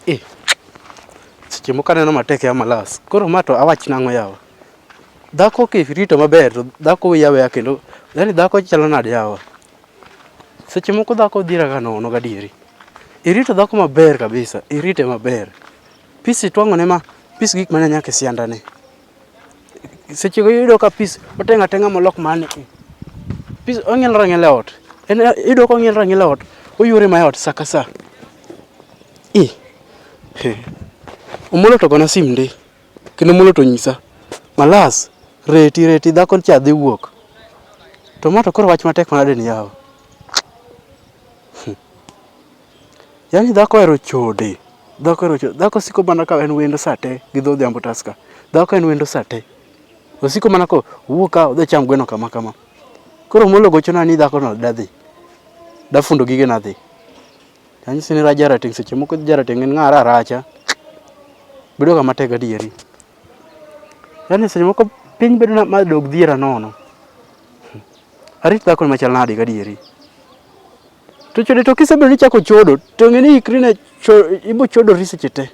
Eh, seche moko aneno matek ya malas. Koro ma to awach nang'o yawa? Dhako kirito maber to dhako wiya weya kendo yani dhako chalo nade yawa? Seche moko dhako dhira ga nono gadieri. Irito dhako maber kabisa, irite maber. Pisi twang'one ma, pis gik mane nyaka e siandane. seche go iyudo ka pis otenga atenga molok mane pis ong'ielore ang'iela ot en iyudo ka ong'ielore ang'iela ot oyuore ma ot sa ka sa i omolo to gona sim ndi kendo omolo to nyisa malas reti reti dhako cha dhi wuok to ma to koro wach matek manade ni yawa Yaani dhako ohero chode. Dhako ohero chode. Dhako siko mana ka en wendo saa te gi dho odhiambo taska. Dhako en wendo saa te. Osiko mana ko wuok ka odhi cham gweno kama kama. Koro molo gochona ni dhako no dadhi. Dafundo gige nadhi. Anyisi ni raja rateng' seche moko jarateng' en ng'ara aracha. Bedo kama tek adieri. Yaani seche moko piny bedo na ma dog dhiera nono. Arit dhako machal nadi gadieri. To chode to kisebedo ni ichako chodo to ng'e ni ikri ne ibo chodori seche te.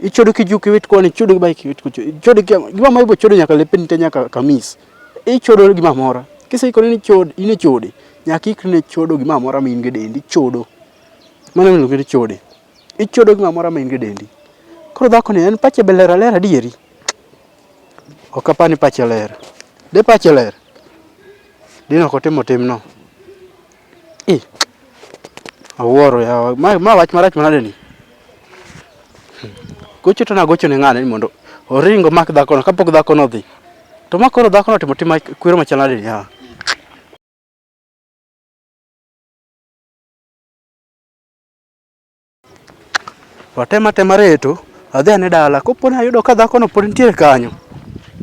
Ichodo kijuk iwit koni, ichodo gi bike iwit kucho, ichodo gima ma ibo chodo nyaka lepeni te nyaka kamis. Ichodo gima mora. Kiseikori ni chode, in e chode, nyaka ikri ne chodo gima mora ma in gi dendi, ichodo. Mano ema iluongo ni chode. Ichodo gima mora ma in gi dendi. Koro dhako ni en pache be ler aler adieri. Ok apar ni pache ler. De pache ler, dine ok otimo timno. I, awuoro yawa. Ma, ma wach marach manade ni? Hmm. Gocho to nagocho ne ng'ane ni mondo oring omak dhakono kapok dhakono odhi. To ma koro dhakono otimo tim kwero machal nade ni yawa? To atema atema reto, adhi ane dala. Kopo ni ayudo ka dhakono pod nitiere kanyo,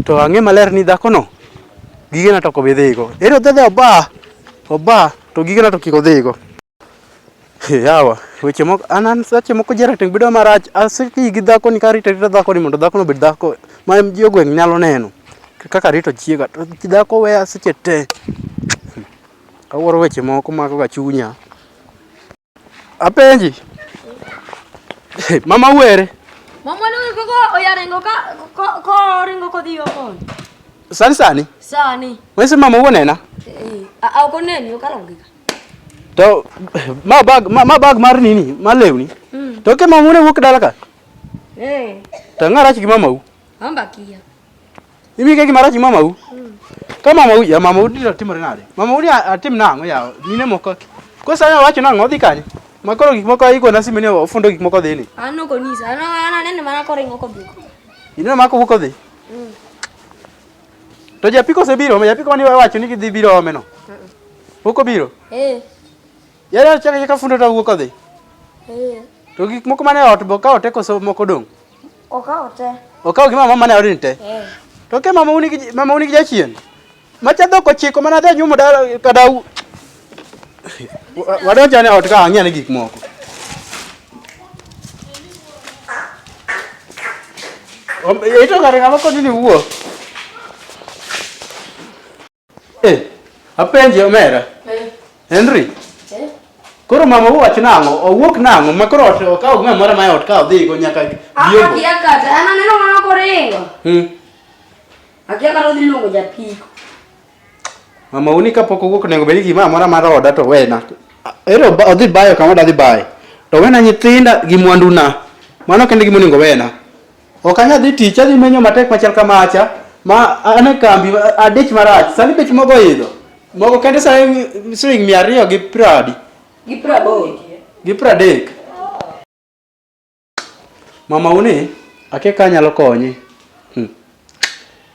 to ang'e maler ni dhakono gigena to ok obi dhigo. Ere odhi adhiya oba, oba to gigena to kik odhigo. Yawa, weche moko an an seche moko ji rateng' bedo marach, aseti gi dhakoni karito arita dhakoni mondo dhakono obed dhako ma ji e gweng' nyalo neno kaka arito chiega. To dhako weya seche te, awuoro weche moko makoga chunya. Apenji. Mama were. Mama ni koko oyarengo ka ko ringo ko dio ko. Sani sani. Sani. Wese mama wonena. Eh, a uko neni ukalongika. To ma bag ma, ma bag mar nini? Ma lewni. Mm. To ke mama wone wuok dala ka. Eh. To ngara chi mama u. Amba kia. Ibi ke gimara ji mamau. Ka mamau ya mamau dira timore nade? Mamau ya atim nang'o ya mine moko. Kosa ya wacho nang'o dhi kanye? Ma koro gik moko iko na simene ofundo gik moko dhi ni. An ok onyisa. An an aneno mana koro ing'o kodhi. Ineno mana kowuok odhi. Mm. To japiko osebiro, japiko mane wacho ni gidhi biro ome no. Pok obiro? Eh. Yare ochaka chaka fundo to wuok odhi. Eh. To gik moko mane ot bo ka ote koso moko dong. Okawo te. Okawo gi mama mane odin te. Eh. To ke mama uni gi mama uni gi jachien. Macha dhok ochiko mana dhi nyumo dala kada u. Wadonjane ot ka ang'e ne gik moko. Ito kare ng'ama koni ni wuok. Eh, apenje omera. Eh. Henry. Eh. Koro mama owach nang'o? Owuok nang'o? Ma koro ot okaw ng'a moro ma ot ka odhi go nyaka biombo. Aka kia kata, an aneno mana koringo. Hmm. Akia kata odhi luongo japiko. Mama uni kapok owuok nengo bedi gi mama moro mar oda to wena. Ero odhi bayo kama odhi bayo. To wena nyithinda gi mwanduna. Mano kende gimonego wena. Ok anyal dhi tich, adhi menyo matek machal kamacha, ma an e kambi, adich marach. Sani bech mogo oidho. Mogo kende sani siling' mia ariyo gi piero adi? Gi piero aboro. Gi piero adek. Mama uni, akia ka anyalo konyi. Hmm.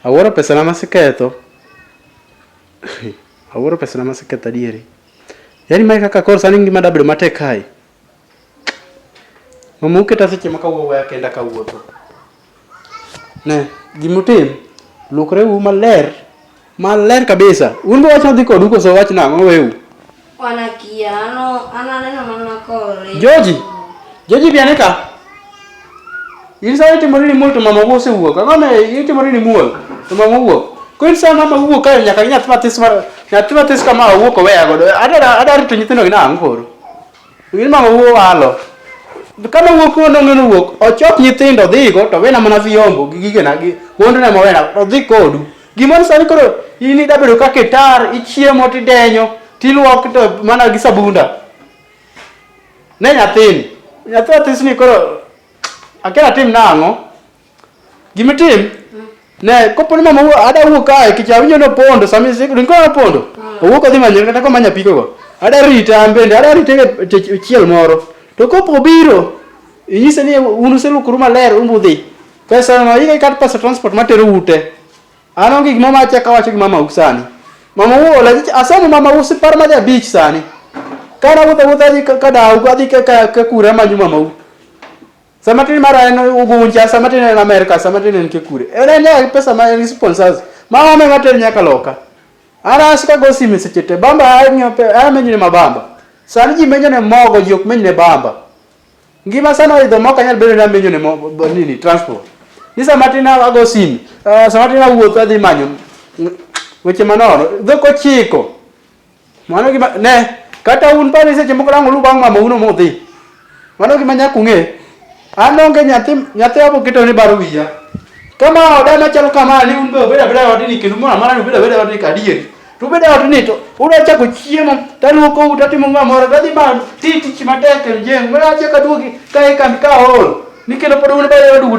Awuoro pesana maseketho. Awuoro pesana maseketho adieri. Yaani mae kaka koro sani ngima dabedo matek kae. Mama uketa seche ma kawuoyo waya kenda kawuotho. Ne, gimutim, lukre u maler, maler kabisa. Un be wach odhi kodu koso wach nang'o weu? Wanakia, ano, ananeno mana kore. Joji, Joji bi ane ka. In sa itimori ni muol to mama wuo osewuok. Ang'o ma itimori ni muol to mama wuok. Ko in sa mama wuok kae nyaka nyathi matis mar nyathi matis kama awuok oweya godo. Adara adara to nyithindo gi nang'o koro. Gin mama wuo walo. Kama wuok ko nonge no wuok, ochok nyithindo dhigo to wena mana vyombo gi gige na gi mondo na mawena to dhi kodu. Gimon sani koro ini da bedo kake tar ichiemo tidenyo tiluok to mana gi sabunda. Ne nyathini. Nyathi atisni koro akera tim nang'o? Gima tim ne kopo ni mama ada wuok kae kech awinjo ni opondo sami ringo opondo ah. owuok odhi manyo kata komanya pikogo ada rite an bende ada rite e chiel moro to kopo obiro inyise ni un uselukuru maler umbudhi pesa no ike kat pesa transport matero ute an onge gima ma achaka wacho gi mama u sani mama u ola asemo mama u sipar madhi abich sani kana wuotha wuotha adhi ka dawu adhi ka kura manyo mama u Sama tini mara en Ugunja, sama tini en Amerika, sama tini en Kikure. En en ya pesa ma en sponsors. Ma wame ma tini nyaka loka. Ana asika go simi seche te. Bamba ahinyo pe, amenyo ni mabamba. Sani ji menyo ne mogo, ji ok menyo ne bamba. Ngima sana oidho mok anyal bedo ni amenyo ne mo- bo- nini, transport. Ni sama tini ago simi, ah, sama tini awuotho adhi manyo mm, weche manono. Dhok ochiko. Mano gima ne kata un pare seche moko lango lu bang' mama uno modhi. Mano gima nyaka ung'e. An onge nyathi nyathi abo keto ni baro wiya. Kama oda machalo kama ni un be obeda beda odini kendo mwana mwana obeda beda odini kadieri. To obeda odini to uda chako chiemo taluoko uta timo ng'a moro gadhi ma ti tich matek e jeng. Mwana chaka duogi kae kambi ka ol. Nikelo pod un bere duogo